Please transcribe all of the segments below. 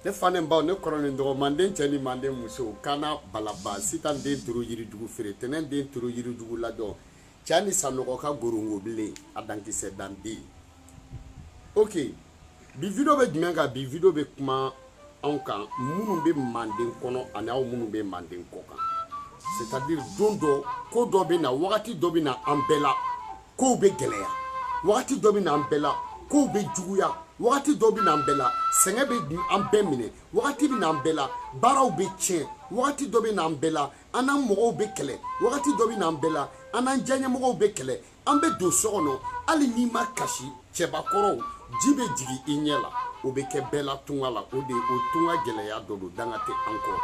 ne fa ni baw ne kɔrɔ ni dɔgɔ manden cɛ ni manden muso kana balaba sitan den turu yiridugu feere tɛnɛn den turu yiridugu ladɔn cɛ ni sanɔgɔ ka gorongo bilen a dankisɛ dan den ok bi video bɛ jumɛn kan bi video bɛ kuma anw kan minnu bɛ manden kɔnɔ ani aw minnu bɛ manden kɔ kan c'est à dire don dɔ ko dɔ bɛ na wagati dɔ bɛ na an bɛɛ la kow bɛ gɛlɛya wagati dɔ bɛ na an bɛɛ la kow bɛ juguya wagati dɔ bɛ na an bɛɛ la sɛgɛn bɛ an bɛɛ minɛ wagati bɛ na an bɛɛ la baaraw bɛ tiɲɛ wagati dɔ bɛ na an bɛɛ la an n'an mɔgɔw bɛ kɛlɛ wagati dɔ bɛ na an bɛɛ la an n'an diyaɲɛmɔgɔw bɛ kɛlɛ an bɛ don so kɔnɔ hali n'i ma kasi cɛbakɔrɔw ji bɛ jigin i ɲɛ la o bɛ kɛ bɛɛ la tunga la o de o tunga gɛlɛya dɔ don danga tɛ an kɔrɔ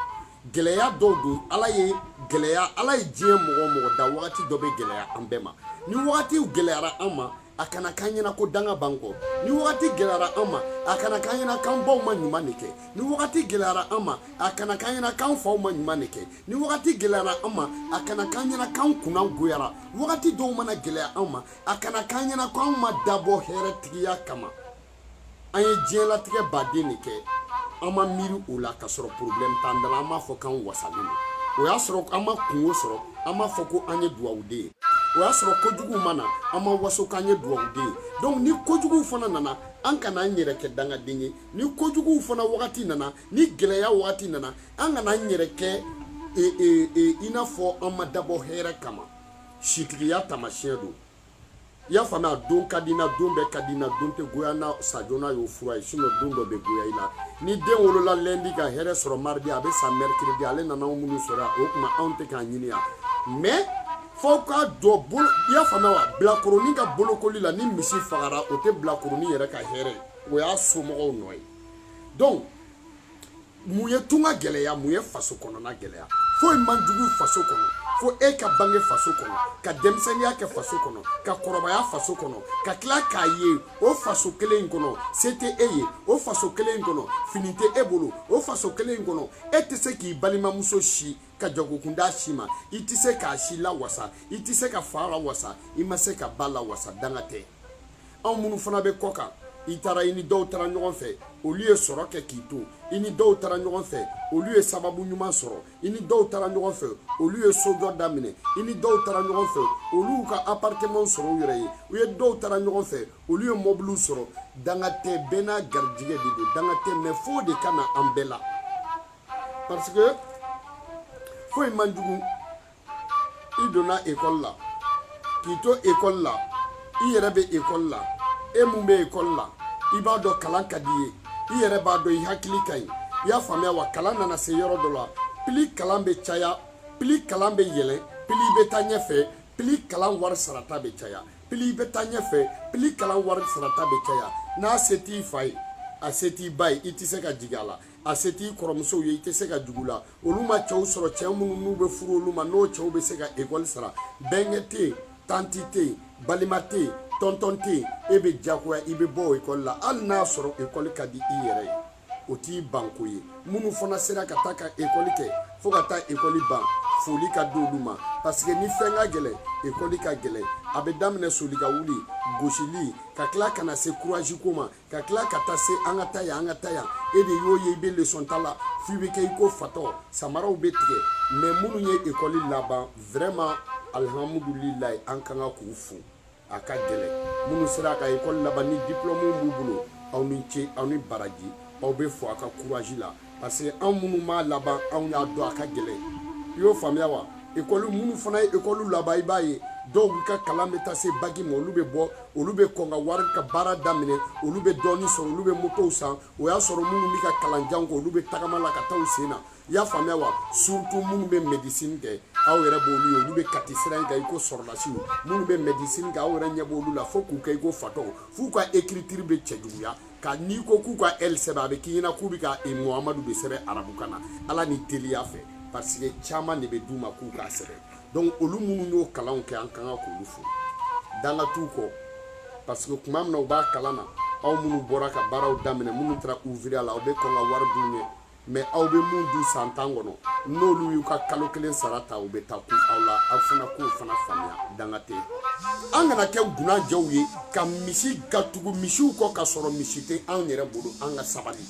gɛlɛya dɔw don ala ye gɛlɛya ala ye diɲɛ mɔgɔ mɔgɔ da wagati dɔ bɛ gɛlɛya an bɛɛ ma ni wagatiw gɛlɛyara an ma a kana k'an ɲɛna ko danga b'an kɔ ni wagati gɛlɛyara an ma a kana k'an ɲɛna k'an baw ma ɲuman de kɛ ni wagati gɛlɛyara an ma a kana k'an ɲɛna k'an faw ma ɲuman de kɛ ni wagati gɛlɛyara an ma a kana k'an ɲɛna k'an kunna goyara wagati dɔw mana gɛlɛya an ma a kana k'an ɲɛna k'an ma dabɔ hɛrɛ tigiya kama an ye diɲɛlatigɛ baden de kɛ an ma miiri o la ka sɔrɔ problème t'an da la an b'a fɔ k'an wasalen don o y'a sɔrɔ an ma kunko sɔrɔ an b'a fɔ ko an ye duwawuden ye o y'a sɔrɔ kojuguw ma na an b'an waso k'an ye duwawuden ye donc ni kojuguw fana nana an kana an yɛrɛ kɛ dangaden ye ni kojuguw fana wagati nana ni gɛlɛya wagati nana an kana an yɛrɛ kɛ e, e, e, i n'a fɔ an ma dabɔ hɛrɛ kama sitigiya taamasiyɛn don i y'a faamuya don ka di n na don bɛɛ ka di n na don tɛ goya n na sa joona y'o fura ye sinon don dɔ bɛ goya i la ni den wolola lundi ka hɛrɛ sɔrɔ mardi a bɛ sa mercredi ale nana anw minnu sɔrɔ yan o tuma anw tɛ k'a ɲini yan mais fo ka dɔ bolo i y'a faamuya wa bilakoronin ka bolokoli la ni misi fagara o tɛ bilakoronin yɛrɛ ka hɛrɛ ye o y'a somɔgɔw nɔ ye donc mun ye tunga gɛlɛya mun ye faso kɔnɔna gɛlɛya foyi man jugu faso kɔnɔ fo e ka bange faso kɔnɔ ka denmisɛnniya kɛ faso kɔnɔ ka kɔrɔbaya faso kɔnɔ ka tila k'a ye o faso kelen in kɔnɔ se tɛ e ye o faso kelen in kɔnɔ fini tɛ e bolo o faso kelen in kɔnɔ e tɛ se k'i balimamuso si ka jagokun d'a si ma i tɛ se k'a si lawasa i tɛ se ka fa lawasa i ma se ka ba lawasa danga tɛ anw minnu fana bɛ kɔ kan i taara i ni dɔw taara ɲɔgɔn fɛ olu ye sɔrɔ kɛ k'i to i ni dɔw taara ɲɔgɔn fɛ olu ye sababu ɲuman sɔrɔ i ni dɔw taara ɲɔgɔn fɛ olu ye sojɔ daminɛ i ni dɔw taara ɲɔgɔn fɛ olu y'u ka appartementw sɔrɔ u yɛrɛ ye i ni dɔw taara ɲɔgɔn fɛ olu ye mɔbiliw sɔrɔ danga tɛ bɛɛ n'a garijigɛ de don danga tɛ mais f'o de ka na an bɛɛ la parce que foyi man jugu i donna ekɔli la k'i to ekɔli la i yɛrɛ bɛ ekɔli la e mun bɛ ekɔli la i b'a dɔn kalan ka d'i ye i yɛrɛ b'a dɔn i hakili ka ɲi i y'a faamuya wa kalan nana se yɔrɔ dɔ la pili kalan bɛ caya pili kalan bɛ yɛlɛn pili bɛ taa ɲɛfɛ pili kalan wari sarata bɛ caya pili bɛ taa ɲɛfɛ pili kalan wari sarata bɛ caya n'a se t'i fa ye a se t'i ba ye i tɛ se ka jigi a la a se t'i kɔrɔmusow ye i tɛ se ka jigi u la olu ma cɛw sɔrɔ cɛ minnu n'u bɛ furu olu ma n'o cɛw bɛ se ka ekɔli sara bɛnkɛ tɛ yen tanti tɛ yen balima tɛ yen tɔntɔn tɛ yen e bɛ diyagoya i bɛ bɔ ekɔli la hali n'a sɔrɔ ekɔli ka di i yɛrɛ ye o t'i banko ye minnu fana sera ka taa ka ekɔli kɛ fo ka taa ekɔli ban foli ka di olu ma paseke ni fɛn ka gɛlɛn ekɔli ka gɛlɛn a bɛ daminɛ soli ka wuli gosili ka tila ka na se kurazi ko ma ka tila ka taa se an ka taa yan an ka taa yan e de y'o ye i bɛ lesɔn ta la f'i bɛ kɛ i ko fatɔ samaraw bɛ tigɛ mɛ minnu ye ekɔli laban vraiment alihamudulilayi an kan ka k'u fo a ka gɛlɛn minnu sera ka ekɔli laban ni diplɔmu b'u bolo aw ni ce aw ni baraji aw bɛ fo a ka kurazi la parce que anw minnu m'a laban anw y'a dɔn a ka gɛlɛn i y'o faamuya wa ekɔli minnu fana ye ekɔli laban i b'a ye dɔw ka kalan bɛ taa se baki ma olu bɛ bɔ olu bɛ kɔn ka wari ka baara daminɛ olu bɛ dɔɔnin sɔrɔ olu bɛ motow san o y'a sɔrɔ minnu bɛ ka kalan jan kɛ olu bɛ tagama la ka taa u sen na i y'a faamuya wa surtout minnu bɛ médecine kɛ aw yɛrɛ b'olu ye olu bɛ kati sira in kan i ko sɔrɔdasiw minnu bɛ médecine kɛ aw yɛrɛ ɲɛ b'olu la fo k'u kɛ i ko fatɔw f'u ka écriture bɛ cɛjuguya ka n'i ko k'u ka ɛli sɛbɛn a bɛ k'i ɲɛna k'u bɛ ka e muhamadu de sɛbɛn arabukan na ala ni teliya fɛ parce que caman de bɛ d'u ma k'u k'a sɛbɛn donc olu minnu y'o kalanw kɛ an kan ka k'olu fo danga t'u kɔ parce que tuma min na u b'a kalan na aw minnu bɔra ka baaraw daminɛ minnu taara ouvrier la aw bɛ kɔn ka wari dun u ɲɛ mɛ aw bɛ min dun san tan kɔnɔ n'olu y'u ka kalo kelen sara ta u bɛ taa kun aw la aw fana k'o fana faamuya danga tɛ an kana kɛ gunanjɛw ye ka misi ka tugu misiw kɔ ka sɔrɔ misi tɛ anw yɛrɛ bolo an ka sabali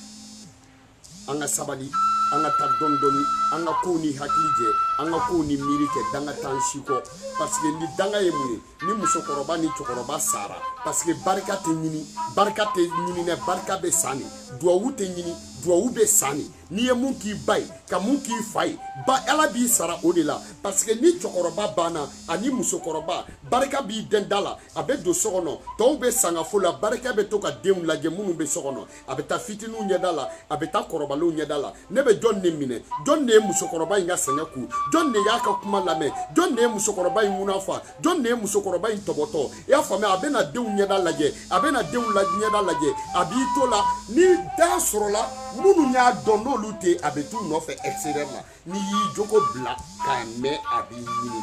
an ka sabali an ka taa dɔɔni dɔɔni an ka kow ni hakili jɛ an ka kow ni miiri kɛ danga t'an si kɔ parce que ni danga ye mun ye ni musokɔrɔba ni cɛkɔrɔba sara paseke barika tɛ ɲini barika tɛ ɲini dɛ barika bɛ san de duwawu tɛ ɲini duwawu bɛ san de n'i ye mun k'i ba ye ka mun k'i fa ye ba ala b'i sara o de la paseke ni cɛkɔrɔba banna ani musokɔrɔba barika b'i dɛn da la a bɛ don so kɔnɔ tɔw bɛ sangafo la barika bɛ to ka denw lajɛ minnu bɛ so kɔnɔ a bɛ taa fitininw ɲɛda la a bɛ taa kɔrɔbalenw ɲɛda la ne bɛ jɔn de minɛ jɔn de ye musokɔrɔba in ka sɛgɛn kun jɔn de y'a ka kuma lamɛn jɔn de ye musokɔrɔba in ŋuna fa jɔn de ye musokɔrɔba in tɔbɔtɔ i y'a faamuya a bɛna denw ɲɛda lajɛ a bɛna denw la ɲɛda lajɛ a b'i to la ni da sɔrɔla minnu y'a dɔn n'olu tɛ a bɛ t'u nɔfɛ extérieur la n'i y'i jogo bila k'a mɛn a b'i ɲini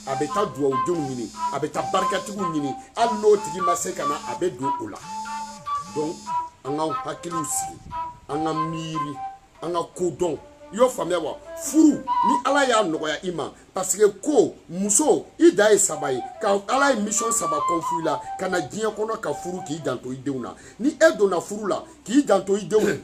a bɛ taa duwawudenw ɲini a bɛ taa barikatigiw ɲini hali n'o tigi ma se ka na a bɛ don o la donc an k'an hakiliw sigi an ka miiri an ka ko dɔn i y'o faamuya wa furu ni ala y'a nɔgɔya i ma parce que ko muso i da ye saba ye ka ala ye mission saba confier i la ka na diɲɛ kɔnɔ ka furu k'i janto i denw na ni e donna furu la k'i janto i denw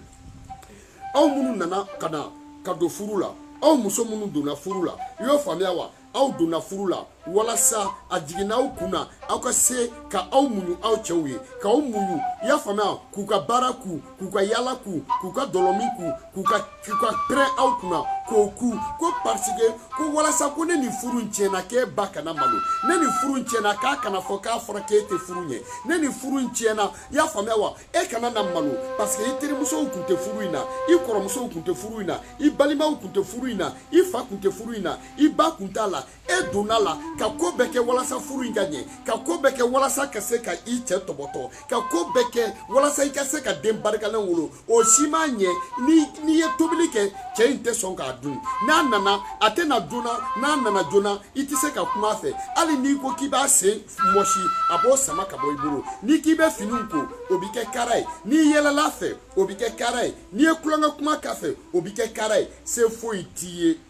aw minnu nana ka na ka don furu la aw muso minnu donna furu la i y'o faamuya wa aw donna furu la walasa a jiginna aw kun na aw ka se ka aw muɲu aw cɛw ye ka aw muɲu i y'a faamuya k'u ka baara ku k'u ka yaala ku k'u ka dɔlɔmin ku k'u ka k'u ka pɛrɛn aw kunna k'o ku ko parce que ko walasa ko ni nin furu in tiɲɛna k'e ba kana malo ni nin furu in tiɲɛna k'a kana fɔ k'a fɔra k'e tɛ furu ɲɛ ni nin furu in tiɲɛna i y'a faamuya wa e kana na malo parce que i terimusow kun tɛ furu in na i kɔrɔmusow kun tɛ furu in na i balimaw kun tɛ furu in na i fa kun tɛ furu in na i ba kun t'a la e donna la ka ko bɛɛ kɛ walasa furu in ka ɲɛ ka ko bɛɛ kɛ walasa ka se ka i cɛ tɔbɔtɔ ka ko bɛɛ kɛ walasa i ka se ka den barikalen wolo o si ma ɲɛ n'i ye tobili kɛ cɛ in tɛ sɔn k'a dun n'a nana a tɛ na joona n'a nana joona i tɛ se ka kuma a fɛ hali n'i ko k'i b'a sen mɔsi a b'o sama ka bɔ i bolo n'i k'i bɛ finiw ko o bɛ kɛ kara ye n'i yɛlɛla a fɛ o bɛ kɛ kara ye n'i ye kulonkɛ kuma k'a fɛ o bɛ kɛ kara ye se foyi t'i ye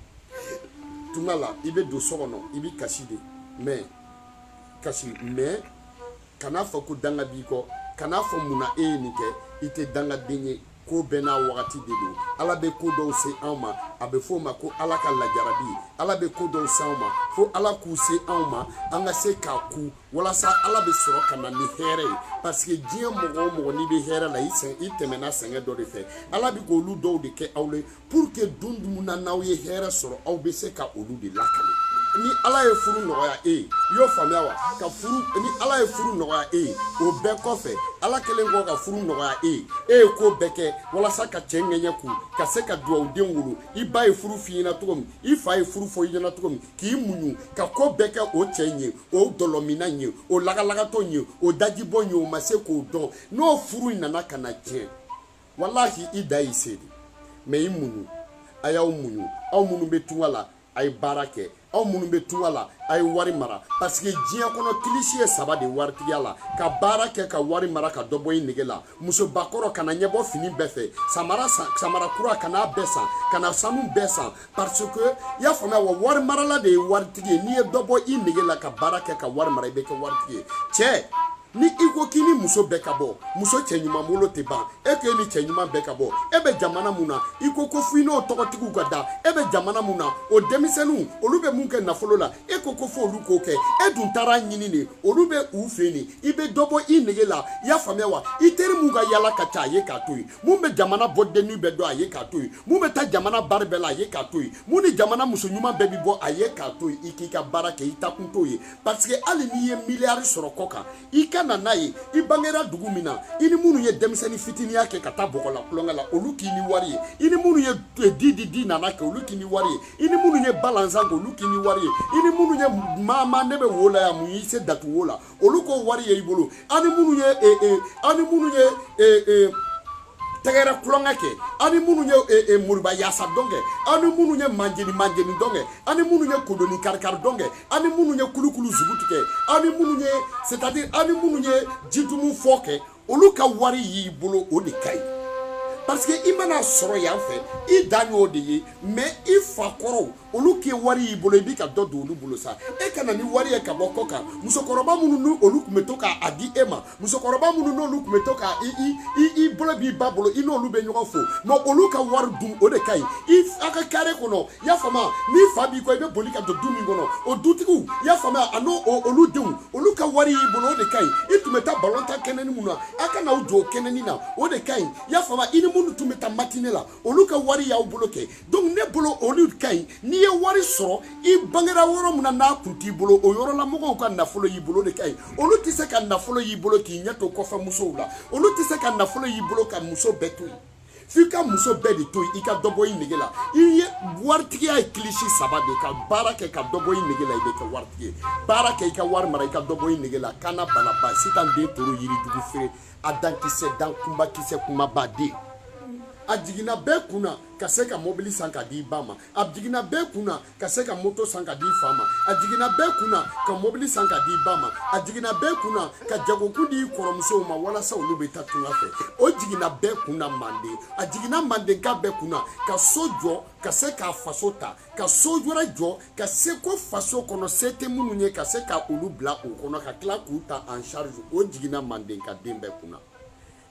tuma la i bɛ don so kɔnɔ i bɛ kasi de mais kasi mais kan'a fɔ ko danga b'i kɔ kan'a fɔ mun na e ye nin kɛ i tɛ dangaden ye ko bɛɛ n'a wagati de don ala bɛ ko dɔw se anw ma a bɛ fɔ o ma ko ala ka lajarabi ala bɛ ko dɔw se anw ma fo ala k'u se anw ma an ka se k'a ku walasa ala bɛ sɔrɔ ka na ni hɛrɛ ye parce que diɲɛ mɔgɔ o mɔgɔ n'i bɛ hɛrɛ la i sɛgɛn i tɛmɛna sɛgɛn dɔ de fɛ ala bɛ ko olu dɔw de kɛ aw la pour que don dɔ min na n'aw ye hɛrɛ sɔrɔ aw bɛ se ka olu de lakale ni ala ye furu nɔgɔya e ye i y'o faamuya wa ka furu ni ala ye furu nɔgɔya e ye o bɛɛ kɔfɛ ala kɛlen kɔ ka furu nɔgɔya e ye e ye ko bɛɛ kɛ walasa ka cɛ ŋɛɲɛ kun ka se ka duwawuden wolo i ba ye furu f'i ɲɛna cogo min i fa ye furu fɔ i ɲɛna cogo min k'i muɲu ka ko bɛɛ kɛ o cɛ in ye o dɔlɔminna in ye o lagalagatɔ in ye o dajibɔ in ye o ma se k'o dɔn n'o furu in nana ka na tiɲɛ walahi i da y'i se de mais i muɲu a y'aw muɲu aw minnu bɛ tunga la a ye baara kɛ aw minnu bɛ tunga la a ye wari mara parce que diɲɛ kɔnɔ kilisi ye saba de waritigiya la ka baara kɛ ka wari mara ka dɔ bɔ i nege la musobakɔrɔ kana ɲɛbɔ fini bɛɛ fɛ samara kura kan'a bɛɛ san kana sanu bɛɛ san parce que i y'a faamuya wa wari marala de ye waritigi ye n'i ye dɔ bɔ i nege la ka baara kɛ ka wari mara i bɛ kɛ waritigi ye cɛ ni i ko k'i ni muso bɛɛ ka bɔ muso cɛ ɲuman bolo tɛ ban e k'e ni cɛ ɲuman bɛɛ ka bɔ e bɛ jamana mun na i ko ko fo i n'o tɔgɔtigiw ka da e bɛ jamana mun na o denmisɛnninw olu bɛ mun kɛ nafolo la e ko ko fo olu k'o kɛ e dun taara ɲinini olu bɛ u fɛ yen de i bɛ dɔ bɔ i nege la i y'a faamuya wa i teri mun ka yala ka ca a ye k'a to yen mun bɛ jamana boîte de nuit bɛɛ dɔn a ye k'a to yen mun bɛ taa jamana bari bɛɛ la a ye k'a to yen mun ni jamana muso ɲuman bɛɛ bɛ bɔ a ye k'a to yen i k'i ka baara kɛ i taakun t'o ye parce que hali n'i ye miliyari sɔrɔ kɔkan i ka na n'a ye i bangera dugu min na i ni minnu ye denmisɛnnin fitiniya kɛ ka taa bɔgɔ la tulonkɛ la olu k'i ni wari ye i ni minnu ye di di di nana kɛ olu k'i ni wari ye i ni minnu ye balanzan kɛ olu k'i ni wari ye i ni minnu ye maama ne bɛ wo la yan mun y'i se datugu wo la olu k'o wari ye i bolo aw ni minnu ye e, e, aw ni minnu ye e, tɛgɛrɛ tulonkɛ kɛ aw ni minnu ye moriba yaasa dɔn kɛ aw ni minnu ye manjeni manjeni dɔn kɛ aw ni minnu ye kodoni karikari dɔn kɛ aw ni minnu ye kulukulu zugu tigɛ aw ni minnu ye c'est à dire aw ni minnu ye jitumu fɔ kɛ olu ka wari y'i bolo o de ka ɲi parce que i mana sɔrɔ yan fɛ i dan y'o de ye mais i fa kɔrɔw olu k'i wari y'i bolo i b'i ka dɔ don olu bolo sa e ka na ni wari ye ka bɔ kɔkan musokɔrɔba minnu ni olu tun bɛ to k'a a di e ma musokɔrɔba minnu n'olu tun bɛ to k'a i i i i bolo b'i ba bolo i n'olu bɛ ɲɔgɔn fo mais olu ka wari dun o de ka ɲi i a ka kare kɔnɔ i y'a faamuya n'i fa b'i kɔ i bɛ boli ka don du min kɔnɔ o dutigiw i y'a faamuya ani olu denw olu ka wari y'i bolo o de ka ɲi i tun bɛ taa balon tan kɛnɛni mun na a ka na aw jɔ o kɛnɛni na o de ka ɲi i y'a faamuya i ni minnu tun bɛ taa matine la olu ka wari y'aw bolo kɛ donc ne bolo olu ka ɲi n'i ye wari sɔrɔ i bangera yɔrɔ min na n'a kun t'i bolo o yɔrɔla mɔgɔw ka nafolo y'i bolo de ka ɲi olu tɛ se ka nafolo y'i bolo k'i ɲɛ to kɔfɛ musow la olu tɛ se ka nafolo y'i bolo ka muso bɛɛ to yen f'i ka muso bɛɛ de to yen i ka dɔ bɔ i nege la i ye waritigiya ye kilisi saba de ka baara kɛ ka dɔ bɔ i nege la i bɛ kɛ waritigi ye baara kɛ i ka wari mara i ka dɔ bɔ i nege la kana balaba sitan den toro yirijugu feere a dankisɛ dan kunbakisɛ kumaba den a jiginna bɛɛ kun na ka se ka mɔbili san ka di i ba ma a jiginna bɛɛ kun na ka se ka moto san ka di i fa ma a jiginna bɛɛ kun na ka mɔbili san ka di i ba ma a jiginna bɛɛ kun na ka jagokun di i kɔrɔmusow ma walasa olu bɛ taa tunga fɛ o jiginna bɛɛ kun na manden a jiginna mandenka bɛɛ kun na ka so jɔ ka se k'a faso ta ka so wɛrɛ jɔ ka se ko faso kɔnɔ se tɛ minnu ye ka se ka olu bila o kɔnɔ ka tila k'u ta en charge o jiginna mandenka den bɛɛ kun na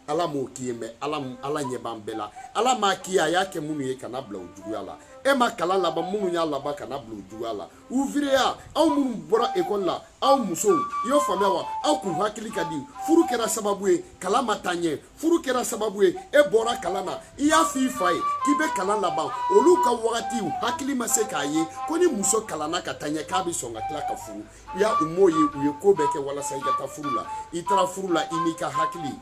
ala m'o k'i ye mais ala ala ɲɛ b'an bɛɛ la ala m'a k'i ye a y'a kɛ minnu ye kana bila o juguya la e ma kalan laban minnu y'a laban kana bila o juguya la ouvrier aw minnu bɔra ekɔli la aw musow i y'o faamuya wa aw kun hakili ka di furu kɛra sababu ye kalan ma taa ɲɛ furu kɛra sababu ye e bɔra kalan na i y'a f'i fa ye k'i bɛ kalan laban olu ka wagatiw hakili ma se k'a ye ko ni muso kalanna ka taa ɲɛ k'a bɛ sɔn ka tila ka furu i y'a u m'o ye u ye ko bɛɛ kɛ walasa i ka taa furu la i taara furu la i n'i ka hakili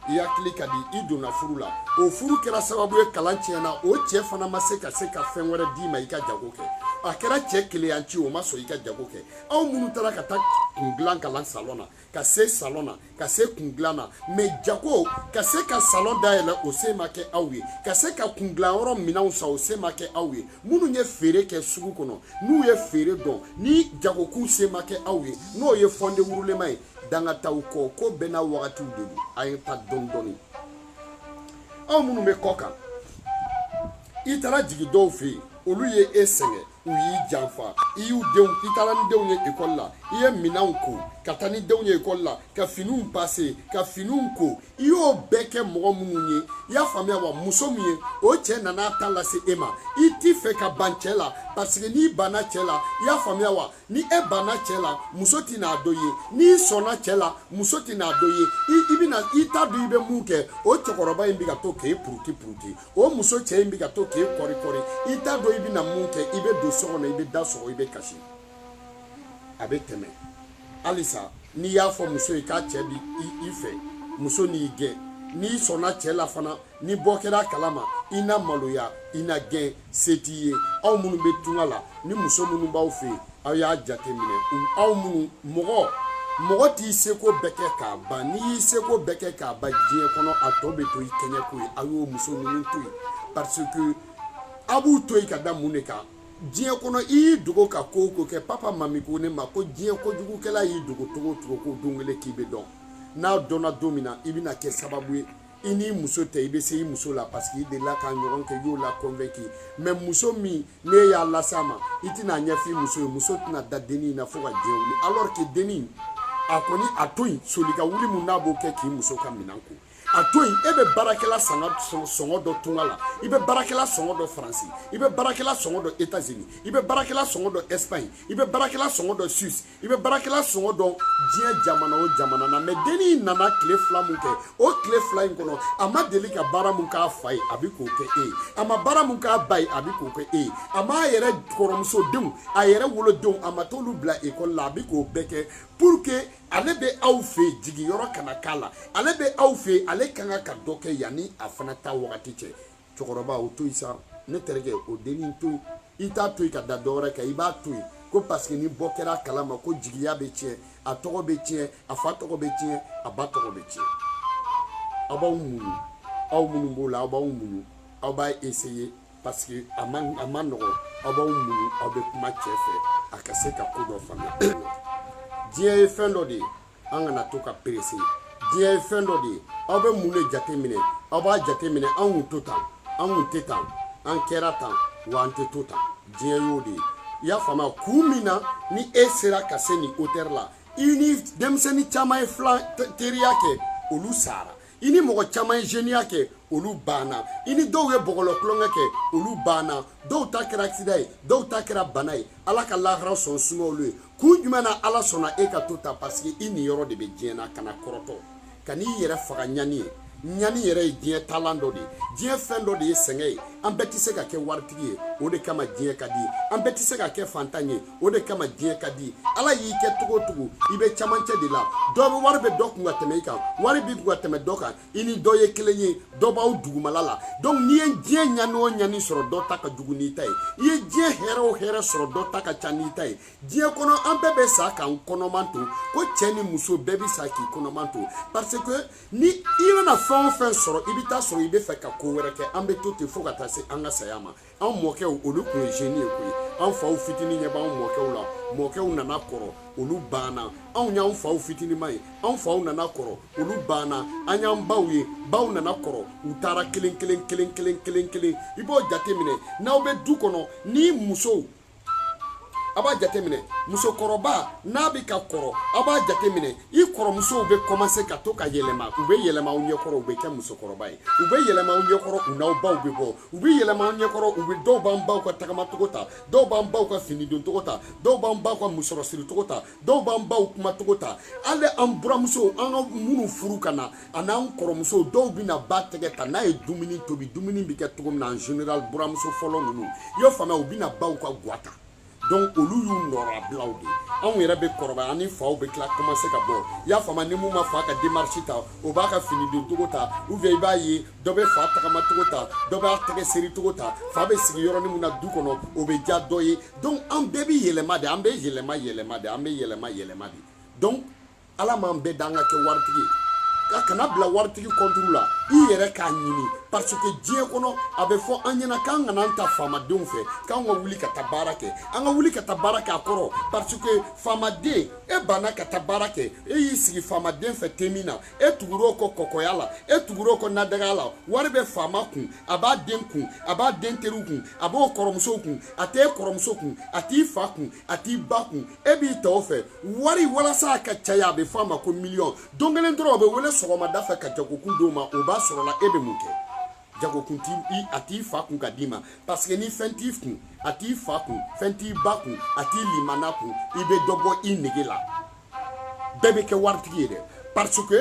i hakili ka di i donna furu la o furu kɛra sababu ye kalan tiɲɛna o cɛ fana ma se ka se ka fɛn wɛrɛ d'i ma i ka jago kɛ a kɛra cɛ keleyanci o ma sɔn i ka jago kɛ aw minnu taara ka taa kun dilan kalan salon na ka se salon na ka se kun dilan na mais jago ka se ka salon dayɛlɛ o se ma kɛ aw ye ka se ka kun dilan yɔrɔ minɛnw san o se ma kɛ aw ye minnu ye feere kɛ sugu kɔnɔ n'u ye feere dɔn ni jagokun se ma kɛ aw ye n'o ye fonds de roulement ye danga t'aw kɔ ko bɛɛ n'a wagatiw de don a ye ta dɔɔni dɔɔni aw minnu bɛ kɔkan i taara jigin dɔw fɛ yen olu ye e sɛgɛn u y'i janfa i y'u denw i taara ni denw ye ekɔli la i ye minɛnw ko ka taa ni denw ye ekɔli la ka finiw pase ka finiw ko i y'o bɛɛ kɛ mɔgɔ minnu ye i y'a faamuya wa muso min ye o cɛ nana ta lase e ma i t'i fɛ ka ban cɛ la parce que n'i banna cɛ la i y'a faamuya wa ni e banna cɛ la muso tɛna dɔ ye n'i sɔnna cɛ la muso tɛna dɔ ye i i bɛna i t'a dɔn i bɛ mun kɛ o cɛkɔrɔba in bɛ ka to k'e puruti puruti o muso cɛ in bɛ ka to k'e kɔri kɔri i t'a dɔn i bɛna mun kɛ i bɛ don so kɔnɔ i bɛ da sɔgɔ i bɛ kasi a bɛ tɛmɛ halisa n'i y'a fɔ muso ye k'a cɛ b'i fɛ muso n'i gɛn n'i sɔnna cɛ la fana ni bɔ kɛra kalama i na maloya i na gɛn se t'i ye aw minnu bɛ tunga la ni muso minnu b'aw fɛ yen aw y'a jateminɛ aw minnu mɔgɔ mɔgɔ t'i seko bɛɛ kɛ k'a ban n'i y'i seko bɛɛ kɛ k'a ban diɲɛ kɔnɔ a tɔ bɛ to i kɛɲɛko ye aw y'o muso ninnu to yen parce que aw b'u to yen ka da mun de kan diɲɛ kɔnɔ i y'i dogo ka ko o ko kɛ papa mami ko ne ma ko diɲɛ kojugukɛla y'i dogo cogo o cogo ko don kelen k'i bɛ dɔn n'a dɔnna don min na i bɛna kɛ sababu ye i n'i muso tɛ i bɛ se i muso la parce que i delila k'a ɲɔgɔn kɛ i y'o la convaincu mais muso min n'e y'a lase a ma i tɛn'a ɲɛfɔ i muso ye muso tɛna da denni in na fo ka diɲɛ wuli alors que denni a kɔni a to yen soli ka wuli min n'a b'o kɛ k'i muso ka minɛn ko a to yen e bɛ baarakɛla sɔngɔ dɔn tunga la i bɛ baarakɛla sɔngɔ dɔn faransi i bɛ baarakɛla sɔngɔ dɔn etazini i bɛ baarakɛla sɔngɔ dɔn ɛsipaɲi i bɛ baarakɛla sɔngɔ dɔn suisse i bɛ baarakɛla sɔngɔ dɔn diɲɛ jamana o jamana na mais dennin in nana tile fila mun kɛ o tile fila in kɔnɔ a ma deli ka baara mun k'a fa ye a bɛ k'o kɛ e ye a ma baara mun k'a ba ye a bɛ k'o kɛ e ye a m'a yɛrɛ kɔrɔmuso denw a yɛrɛ wolodenw a ma t'olu bila ekɔli la a bɛ k'o bɛɛ kɛ pour que ale bɛ aw fɛ yen jigiyɔrɔ kana k'a la ale bɛ aw fɛ yen ale ka kan ka dɔ kɛ yanni a fana ta wagati cɛ cɛkɔrɔba o to yen sa ne terikɛ o dennin to yen i t'a to yen ka da dɔwɛrɛ kan i b'a to yen ko parce que ni bɔ kɛra a kalama ko jigiya bɛ tiɲɛ a tɔgɔ bɛ tiɲɛ a fa tɔgɔ bɛ tiɲɛ a ba tɔgɔ bɛ tiɲɛ aw b'aw muɲu aw minnu b'o la aw b'aw muɲu aw b'a essayer parce que a ma a ma nɔgɔn aw b'aw muɲu aw bɛ kuma cɛ fɛ a ka se ka ko dɔ faamuya diɲɛ ye fɛn dɔ de ye an kana to ka pressé diɲɛ ye fɛn dɔ de ye aw bɛ mun de jate minɛ aw b'a jate minɛ an kun to tan an kun tɛ tan an kɛra tan wa an tɛ to tan diɲɛ y'o de ye i y'a faamuya kun min na ni e sera ka se nin hauteur la i ni denmisɛnnin caman ye filan teriya kɛ olu sara i ni mɔgɔ caman ye zeniya kɛ olu banna i ni dɔw ye bɔgɔlɔ tulonkɛ kɛ olu banna dɔw ta kɛra accident ye dɔw ta kɛra bana ye ala ka lahara so suma olu ye kun jumɛn na ala sɔnna e ka to tan parce que i niyɔrɔ de bɛ diɲɛ na kana kɔrɔtɔ ka n'i yɛrɛ faga ɲani ye ɲani yɛrɛ ye diɲɛ taalan dɔ de ye diɲɛ fɛn dɔ de ye sɛgɛn ye an bɛɛ tɛ se ka kɛ waritigi ye o de kama diɲɛ ka di ye an bɛɛ tɛ se ka kɛ fantan ye o de kama diɲɛ ka di ala y'i kɛ cogo o cogo i bɛ camancɛ de la dɔ bɛ wari bɛ dɔ kun ka tɛmɛ i kan wari b'i kun ka tɛmɛ dɔ kan i ni dɔ ye kelen ye dɔ b'aw dugumala la donc n'i ye diɲɛ ɲani o ɲani sɔrɔ dɔ ta ka jugu n'i ta ye i ye diɲɛ hɛrɛ o hɛrɛ sɔrɔ dɔ ta ka ca n'i ta ye diɲɛ kɔnɔ an bɛɛ bɛ sa k'an kɔnɔman to ko cɛ ni muso bɛɛ bɛ sa k'i kɔnɔman to parce que ni i bɛna fɛn o fɛn sɔrɔ i bɛ taa sɔrɔ i bɛ fɛ ka ko wɛrɛ kɛ an bɛ to ten fo ka taa se an ka saya ma anw mɔkɛw olu tun ye jeune ye koyi anw faw fitini ɲɛ b'anw mɔkɛw la mɔkɛw nana kɔrɔ olu banna anw y'anw faw fitinima ye anw faw nana kɔrɔ olu banna an y'an baw ye baw nana kɔrɔ u taara kelen kelen kelen kelen kelen kelen i b'o jate minɛ n'aw bɛ du kɔnɔ ni musow a b'a jateminɛ musokɔrɔba n'a bɛ ka kɔrɔ a b'a jateminɛ i kɔrɔmusow bɛ kɔmanse ka to ka yɛlɛma u bɛ yɛlɛma aw ɲɛkɔrɔ u bɛ kɛ musokɔrɔba ye u bɛ yɛlɛma aw ɲɛkɔrɔ u n'aw baw bɛ bɔ u bɛ yɛlɛma aw ɲɛkɔrɔ u bɛ dɔw b'an baw ka tagamacogo ta dɔw b'an baw ka fini doncogo ta dɔw b'an baw ka musɔrɔsiricogo ta dɔw b'an baw kumacogo ta hali an buramusow an ka minnu furu ka na ani an kɔrɔmusow dɔw bɛna ba tɛgɛ ta n'a ye dumuni tobi dumuni bɛ kɛ cogo min na en général buramuso fɔlɔ ninnu i y'o faamuya u bɛna baw ka gwa ta donc olu y'u nɔrɔbilaw de anw yɛrɛ bɛ kɔrɔbaya an ni faw bɛ tila commencer ka bɔ i y'a faamuya ni mun ma fa ka démarche ta o b'a ka fini don cogo ta ou bien i b'a ye dɔ bɛ fa tagama cogo ta dɔ b'a tɛgɛ seri cogo ta fa bɛ sigi yɔrɔnin min na du kɔnɔ o bɛ diya dɔ ye donc an bɛɛ bɛ yɛlɛma de an bɛ yɛlɛma yɛlɛma de an bɛ yɛlɛma yɛlɛma de donc ala m'an bɛɛ da an ka kɛ waritigi ye kana bila waritigi kɔnturu la i yɛrɛ k'a ɲini parce que diɲɛ kɔnɔ a bɛ fɔ an ɲɛna k'an kana an to faamadenw fɛ k'an ka wuli ka taa baara kɛ an ka wuli ka taa baara kɛ a kɔrɔ parce que faamaden e banna ka taa baara kɛ e y'i sigi faamaden fɛ te min na e tugur'o kɔ kɔkɔya la e tugur'o kɔ nadagaya la wari bɛ faama kun a b'a den kun a b'a den teriw kun a b'o kɔrɔmusow kun a t'e kɔrɔmuso kun a t'i fa kun a t'i ba kun e b'i to o fɛ wari walasa a ka caya a bɛ fɔ a ma ko miliyɔn don kelen dɔrɔn o bɛ wele sɔgɔmada fɛ ka jagokun d'o ma o b'a sɔrɔla e bɛ mun kɛ jagokun t'i a t'i fa kun ka d'i ma parce que ni fɛn t'i kun a t'i fa kun fɛn t'i ba kun a t'i limana kun i bɛ dɔ bɔ i nege la bɛɛ tɛ kɛ waritigi ye dɛ parce que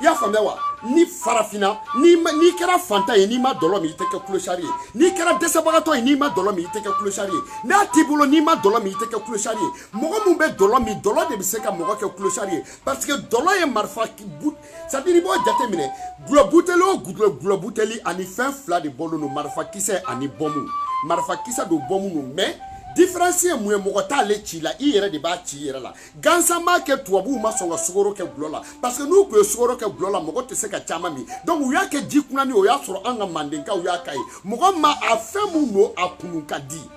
i y'a faamuya wa ni farafinna n'i ma n'i kɛra fantan ye n'i ma dɔlɔ min i tɛ kɛ kulosari ye n'i kɛra dɛsɛbagatɔ ye n'i ma dɔlɔ min i tɛ kɛ kulosari ye n'a t'i bolo n'i ma dɔlɔ min i tɛ kɛ kulosari ye mɔgɔ min bɛ dɔlɔ min dɔlɔ de bɛ se ka mɔgɔ kɛ kulosari ye parce que dɔlɔ ye marifa c'est à dire i b'o jateminɛ gulɔ buteli o gulɔ buteli ani fɛn fila de bɔlen don marifakisɛ ani bɔmu marifakisɛ don bɔmu don mais différence ye mun ye mɔgɔ t'ale ci i la i yɛrɛ de b'a ci i yɛrɛ la gansan b'a kɛ tubabuw ma sɔn ka sukoro kɛ gulɔ la parce que n'u tun ye sukoro kɛ gulɔ la mɔgɔ tɛ se ka caman min donc u y'a kɛ ji kunani o y'a sɔrɔ an ka mandenkaw y'a ka ye mɔgɔ ma a fɛn mun don a kunun ka di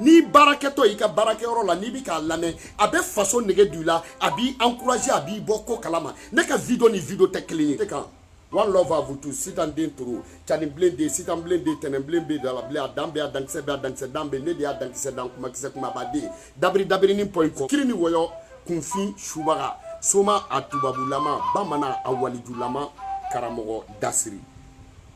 n'i baarakɛtɔ i ka baarakɛyɔrɔ la n'i bɛ k'a lamɛn a bɛ faso nege don i la a b'i encourager a b'i bɔ ko kalama ne ka video ni video tɛ kelen ye. kan one love à vous tous sitan den toro cani bilen de sitan bilen de tɛnɛn bilen bɛ da la bilen a dan bɛ a dankisɛ bɛ a dankisɛ dan bɛ ne de y'a dankisɛ dan kumakisɛ kumaba den dabiri dabiri ni pɔyi kɔ kiri ni wɔyɔ kunfin subaga soma a tubabulama bamanan a walijulama karamɔgɔ dasiri